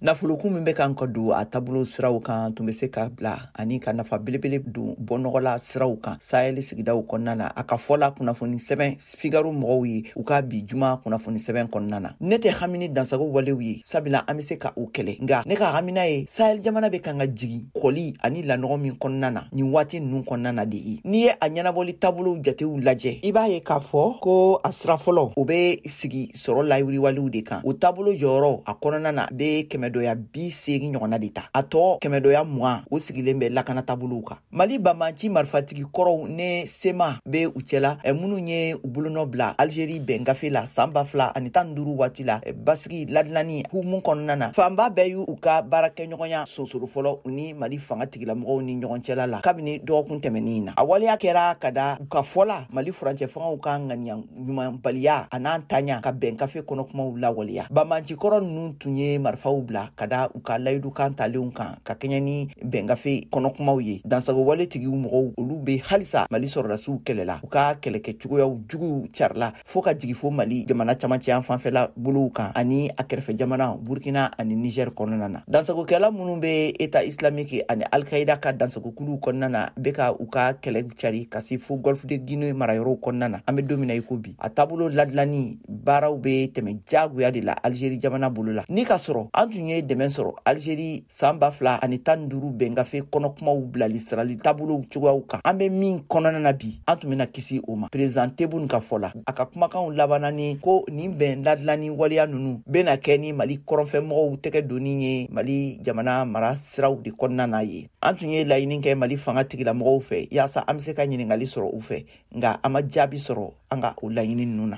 nafolokun min bɛ kan ka don a taabolo siraw kan tun bɛ se ka bila ani ka nafa belebele don bɔnɔgɔla siraw kan sahɛli sigidaw kɔnɔna na a ka fɔla kunnafoni sɛbɛn figaro mɔgɔw ye u ka bi juma kunnafoni sɛbɛn kɔnɔna na ne tɛ hamini dansago walew ye sabula an be se ka o kɛlɛ nga ne ka hamina ye sahɛli jamana be kan ka jigi kɔli ani lanɔgɔ min kɔnɔna na nin waati nunu kɔnɔna na de ye n'i ye a ɲɛnabɔli taabolow jatew lajɛ i b'a ye k'a fɔ ko a sira fɔlɔ o be sigi sɔrɔ layiriwaliw de kan o taabolo jɔyɔrɔ a kɔnɔna na be kɛmɛdɔya bi seegi ɲɔgɔnna de ta a tɔ kɛmɛdɔya mugan o sigilen bɛ lakana taabolow kan mali banbanci marifatigi kɔrɔw ni sema be u cɛla minnu ye u bolonɔ bila algeri bɛn gafe la saan ba fila ani tan ni duuru waati la basigi ladilani hukumu kɔnɔna na fanba bɛɛ y'u ka baarakɛɲɔgɔnya sonsoro fɔlɔ u ni mali fanga tigilamɔgɔw ni ɲɔgɔn cɛla la kabini dɔgɔkun tɛmɛnin na a waleya kɛra ka da u ka fɔla mali furancɛ fangaw ka ŋaniya ɲumanbaliya an'a ntanya ka bɛn gafe kɔnɔkumaw lawaleya banbanci kɔrɔ ninnu tun ye marifaw bila ka da u ka layidukan talenw kan ka kɛɲɛ ni bɛngafe kɔnɔkumaw ye dansagowale tigiw mɔgɔw olu be halisa mali sɔrɔdasiw kɛlɛla u ka kɛlɛkɛ cogoyaw juguw carila fo ka jigi fo mali jamana camancɛ yanfan fɛla bolow kan ani a kɛrɛfɛ jamana burkina ani nigɛr kɔnɔna na dansagokɛla minnu be eta islamiki ani alkaida ka dansagokuluw kɔnɔna na be ka u ka kɛlɛ cari ka se fo gɔlf de guine marayɔrɔw kɔnɔna na an be don min na i ko bi a taabolo ladilanni baaraw bɛ tɛmɛ jagoya de la alizeri jamana bolo la ni k'a sɔrɔ an tun ye dɛmɛ sɔrɔ alizeri saan ba fila ani tan ni duuru bɛngafe kɔnɔkumaw bilali sirali taabolow cogoyaw kan an bɛ min kɔnɔna na bi an tun bɛna kisi o ma perezan tebun ka fɔ la a ka kumakanw laban na ni ko nin bɛn ladilanni waleya ninnu bɛna kɛ ni mali kɔrɔnfɛmɔgɔw tɛgɛ donni ye mali jamana mara siraw de kɔnɔna na ye an tun ye laɲini kɛ mali fanga tigilamɔgɔw fɛ yaasa an bɛ se ka ɲininkali sɔrɔ u fɛ nka an ma jaabi sɔrɔ an ka o laɲini ninnu na